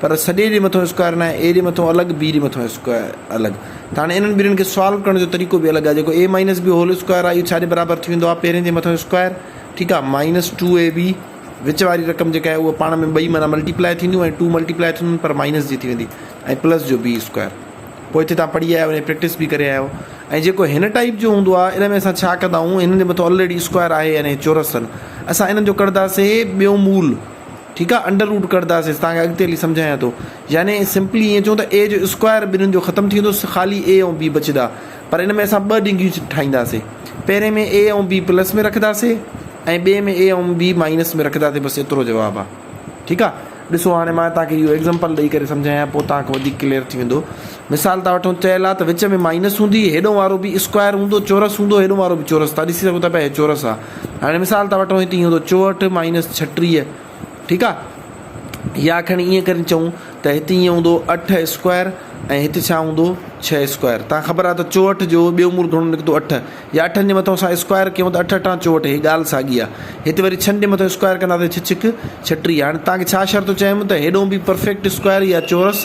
پر سڏي ڏي مٿو اسڪوائر ناهي، اي ڏي مٿو الڳ، بي ڏي مٿو اسڪوائر الڳ. ته هاڻي انهن ٻنهين کي سالو ڪرڻ جو طريقو به الڳ آهي. جيڪو A minus B whole square آهي اهو ڇا جي برابر ٿي ويندو آهي پهرين جي مٿو اسڪوائر ٺيڪ آهي مائنس ٽو اي بي وچ واري رقم جيڪا آهي اها پاڻ ۾ ٻئي معنيٰ ملٽي پلائي ٿينديون ۽ ٽو ملٽي پلائي ٿينديون پر مائنس جي ٿي ويندي ۽ پلس جو بي اسڪوائر پوء هتي تان پڙهي آيا آهيو ان جي پريڪٽس به ڪري آيا آهيو ۽ جيڪو هن ٽائيپ جو هوندو آهي ان ۾ اسان ڇا ڪندا آهيون هنن جي مٿو الريڊي اسڪوائر آهي يعني چورس آهن اسان انهن جو ڪڍنداسي ٻيو مول ٺيڪ آ انڊر روٽ ڪڍداسين توهان کي اڳتي هلي سمجهايان ٿو يعني سمپلي ائين چئون ته اي جو اسڪوائر ٻنهين جو ختم ٿي ويندو خالي اي ۽ بي بچدا پر ان ۾ اسان ٻه ڊگهيون ٺاهينداسين پهرين ۾ اي ۽ بي پلس ۾ رکداسين ۽ ٻئي ۾ اي ۽ بي مائنس ۾ رکداسين بس ايترو جواب آ ٺيڪ آ ڏسو هاڻي مان توهان کي اهو ايگزامپل ڏئي ڪري سمجهايان پوء توهان کي وڌيڪ ڪليئر ٿي ويندو مثال ٿا وٺون چيل آ ته وچ ۾ مائنس هوندي هيڏو وارو به اسڪوائر هوندو چورس هوندو هيڏو وارو به چورس تان ڏسي سگهو ٿا پيا هي چورس آ هاڻي مثال ٿا وٺون هتي هوندو چوهٺ مائنس ڇٽيهه ٺيڪ آ يا کڻي ائين ڪري چئون ته هتي ائين هوندو اٺ اسڪوائر ۽ هتي ڇا هوندو ڇهه اسڪوائر تان خبر آ ته چوهٺ جو ٻيو مول گهڻو نڪتو اٺ يا اٺن جي مٿو اسان اسڪوائر ڪيون ته اٺ اٺان چوهٺ هي ڳالهه ساڳي آ هتي وري ڇهن جي مٿو اسڪوائر ڪنداسي ڇهه ڇهڪ ڇٽيهه هاڻي تان کي ڇا شرط چيم ته هيڏو به پرفيڪٽ اسڪوائر يا چورس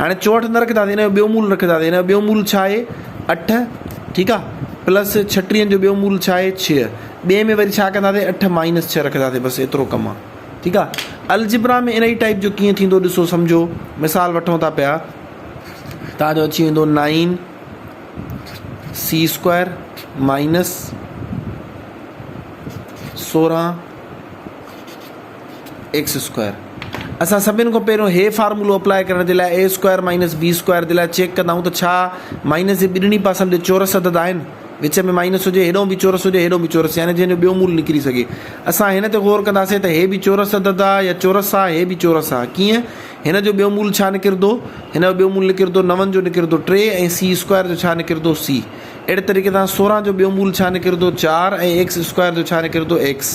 هاڻي چوهٺ نه رکنداسين هن جو ٻيو مول رکنداسين هن جو ٻيو مول ڇا آهي اٺ ٺيڪ آ پلس ڇٽيهن جو ٻيو مول ڇا آهي ڇهه ٻئي ۾ وري ڇا ڪنداسين اٺ مائنس ڇهه رکنداسين بس ايترو ڪم آ ٺيڪ آ الجبرا ۾ انهي ٽائپ جو ڪيئن ٿيندو ڏسو سمجهو مثال وٺون ٿا پيا تان جو اچي ويندو نائن سی اسڪوائر مائنس سورهن ايڪس اسڪوائر اسان سڀني کان پهريون هي فارمولو اپلائي ڪرڻ جي لاء A square minus B square جي لاء چيڪ ڪندائون ته ڇا مائنس جي ٻنهي پاسن تي چورس عدد آهن وچ ۾ مائنس هجي هيڏانهن به چورس هجي هيڏانهن به چورس يعني جنهن جو ٻيو مول نڪري سگهي اسان هن تي غور ڪنداسين ته هي به چورس عدد آهي يا چورس آهي هي به چورس آهي ڪيئن هن جو ٻيو مول ڇا نڪردو هن جو ٻيو مول نڪردو نون جو نڪردو ٽي ۽ سي اسڪوائر جو ڇا نڪردو سي اهڙي طريقي سان سورهن جو ٻيو مول ڇا نڪردو چار ۽ ايڪس اسڪوائر جو ڇا نڪردو ايڪس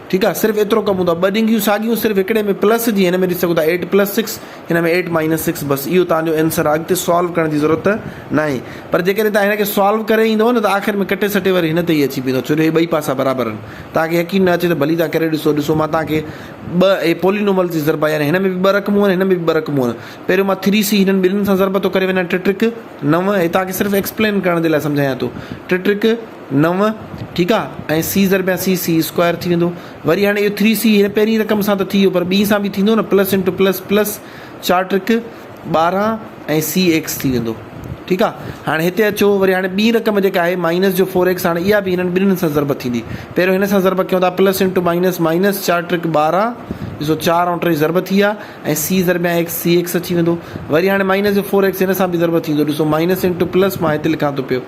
ٺيڪ آ صرف ايترو ڪبون ٿا ٻه ڏنگيون ساڳيون صرف هڪڙي ۾ پلس جي هن ۾ ڏسي سگهو ٿا ايٽ پلس سڪس هن ۾ ايٽ مائنس سڪس بس اهو توهان جو انسر آ اڳتي سالو ڪرڻ جي ضرورت ناهي پر جيڪڏهن توهان هن کي سالو ڪري ايندو نه ته آخر ۾ ڪٽي سٽي وري هن تي ئي اچي بيهندو ڇو جو هي ٻئي پاسا برابر آهن توهان کي يقين نه اچي ته ڀلي توهان ڪري ڏسو ڏسو مان توهان کي ٻه اهي پولينوملز جي ضربا يعني هن ۾ به ٻه رقمون آهن هن ۾ به ٻه رقمون آهن پهريون مان ٿري سي هنن ٻنهين سان ضرب ٿو ڪري وڃان ٽي ٽرڪ نو هي توهان کي صرف ايڪسپلين ڪرڻ جي لاء سمجهايان ٿو ٽي ٽرڪ نو ٺيڪ آ ۽ سي ضرب يا سي سي اسڪوائر ٿي ويندو وري هاڻي اهو ٿري سي هن پهرين رقم سان ته ٿي ويو پر ٻي سان به ٿيندو نه پلس انٽو پلس پلس چار ٽرڪ ٻارهن ۽ سي ايڪس ٿي ويندو ٺيڪ آ هاڻي هتي اچو وري هاڻي ٻي رقم جيڪا آهي مائنس جو فور ايڪس هاڻي اها به هنن ٻنهن سان ضرب ٿيندي پهريون هن سان ضرب ڪيون ٿا پلس انٽو مائنس مائنس چار ٽرڪ ٻارهن ڏسو چار ۽ ٽي ضرب ٿي ويا ۽ سي ضرب يا ايڪس سي ايڪس ٿي ويندو وري هاڻي مائنس جو فور ايڪس هن سان به ضرب ٿيندو ڏسو مائنس انٽو پلس مان هتي لکان ٿو پيو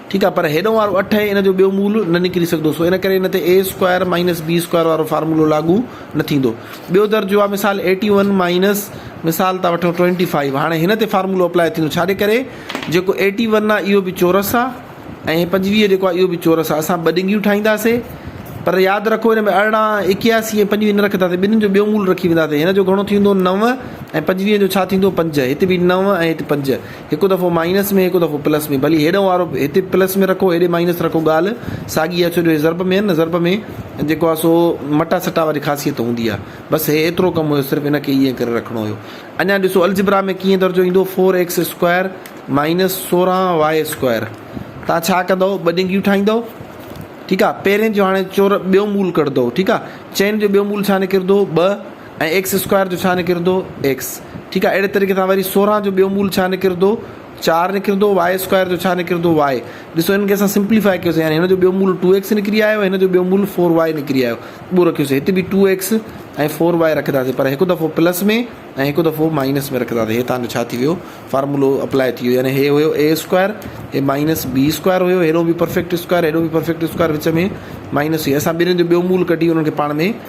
ٺيڪ آهي پر هيڏئون وارو اٺ ۽ ان جو ٻيو مول نه نڪري سگهندو سو ان ڪري ان تي A square minus B square وارو فارمولو لاڳو نه ٿيندو. ٻيو درجو آهي مثال ايٽي ون مائنس مثال ٿا وٺون ٽوئنٽي فائيو هاڻي هن تي فارمولو اپلائي ٿيندو ڇاڄي ڪري جيڪو ايٽي ون آهي اهو به چورس آهي ۽ پنجويهه جيڪو آهي اهو به چورس آهي اسان ٻه ڏنگيون ٺاهينداسي پر ياد رکو هن ۾ ارڙهن اڪياسي ۽ پنجويهه نه رکنداسي ٻنهن جو ٻيو مول رکي وينداسي هن جو گهڻو ٿيندو نو ۽ پنجويهه جو ڇا ٿيندو پنج هت به نو ۽ هت پنج هڪ دفعو مائنس ۾ هڪ دفعو پلس ۾ ڀلي هيڏانهن وارو هتي پلس ۾ رکو هيڏي مائنس رکو ڳالهه ساڳي آهي ڇو جو هي ضرب ۾ آهن نه ضرب ۾ جيڪو آهي سو مٽا سٽا واري خاصيت هوندي آهي بس هي ايترو ڪم هيو صرف هن کي ائين ڪري رکڻو هيو اڃا ڏسو الجبرا ۾ ڪيئن درجو ايندو فور ايڪس اسڪوائر مائنس سورهن واء اسڪوائر تان ڇا ڪندو ٻه ڏنگيون ٺاهيندو ٺيڪ آهي پهرين جو هاڻي چور ٻيو مول ڪڍندو ٺيڪ آهي چئن جو ٻيو مول ڇا نڪردو ٻه ۽ ايڪس اسڪوائر جو ڇا نڪرندو؟ ايڪس. ٺيڪ آهي. اهڙي طريقي سان وري سورهن جو ٻيو مول ڇا نڪرندو؟ چار نڪرندو. واء اسڪوائر جو ڇا نڪرندو؟ واء. ڏسو هن کي اسان سمپليفاء ڪيوسين يعني هن جو ٻيو مول ٽو ايڪس نڪري آيو ۽ هن جو ٻيو مول فور واء نڪري آيو. اهو رکيوسين. هت به ٽو ايڪس ۽ فور واء رکنداسين پر هڪ دفعو پلس ۾ ۽ هڪ دفعو مائنس ۾ رکنداسين. هي تهان جو ڇا ٿي ويو؟ فارمولو اپلائي ٿي ويو يعني هي هيو اي اسڪوائر هي مائنس بي اسڪوائر هيو هيڏو به پرفيڪٽ اسڪوائر هيڏو به پرفيڪٽ اسڪوائر وچ ۾ مائنس هي اسان ٻنهين جو ٻيو مول ڪڍي انهن کي پاڻ ۾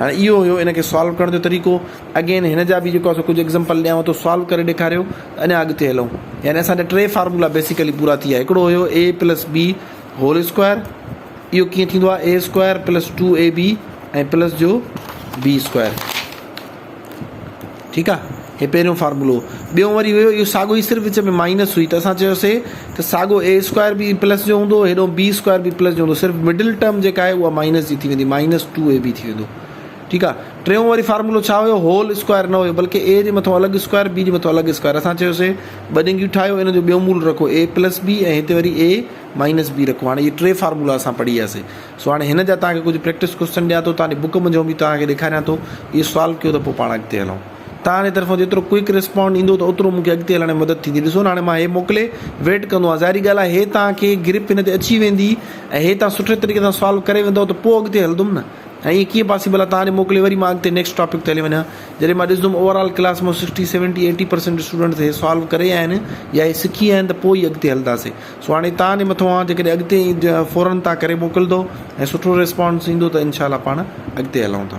هاڻي اهو هيو ان کي سالو ڪرڻ جو طريقو اگين هن جا به جيڪو آهي سو ڪجهه ايگزمپل ڏيانو ٿو سالو ڪري ڏيکاريو ته اڃا اڳتي هلون يعني اسان جا ٽي فارمولا بيسيڪلي پورا ٿي ويا هڪڙو هيو A plus B whole square اهو ڪيئن ٿيندو آهي A square plus two A B ۽ plus جو بي اسڪوائر ٺيڪ آ هي پهريون فارمولو هو ٻيون وري هيو اهو ساڳو ئي صرف وچ ۾ مائنس هئي ته اسان چيوسي ته ساڳو اي اسڪوائر به پلس جو هوندو هيڏو بي اسڪوائر به پلس جو هوندو صرف مڊل ٽرم جيڪا آهي اها مائنس جي ٿي ويندي مائنس ٽو اي بي ٿي ويندو ٺيڪ آ ٽيون وري فارمولو ڇا هيو هول اسڪوائر نه هيو بلڪه اي جي مٿو الڳ اسڪوائر بي جي مٿو الڳ اسڪوائر اسان چيوسي ٻه ڏينگيون ٺاهيو ان جو ٻيو مول رکو اي پلس بي ۽ هتي وري اي مائنس بي رکو هاڻي هي ٽي فارمولا اسان پڙهي وياسي سو هاڻي هن جا توهان کي ڪجهه پريڪٽس ڪوئسچن ڏيان ٿو، توهان جي بوڪ منجهه به توهان کي ڏيکاريان ٿو، اهي سالو ڪيو ته پوء پاڻ اڳتي هلون. توهان جي طرفان جيترو ڪوئڪ ريسپانڊ ايندو ته اوترو مون کي اڳتي هلڻ ۾ مدد ٿيندي. ڏسو نه هاڻي مان هي موڪلي ويٽ ڪندو آهيان، ظاهري ڳالهه آهي هي توهان کي گرپ هن تي اچي ويندي ۽ هي توهان سٺي طريقي سان سالو ڪري ويندؤ ته پوء اڳتي هلندم نه ۽ ائين ڪيئن پاسيبل آهي توهان جي موڪلي وري مان اڳتي نيڪسٽ ٽاپڪ تي هلي وڃان جڏهن مان ڏسندم اوور آل ڪلاس مان sixty seventy eighty percent students هي سالو ڪري آيا آهن يا هي سکي آيا آهن ته پوء ئي اڳتي هلنداسين. سهاڻي تان جي مٿو آن جيڪڏهن اڳتي اينء فورن تان ڪري موڪلدو ۽ سٺو ريسپانس ايندو ته انشاء الله پاڻ اڳتي هلون ٿا.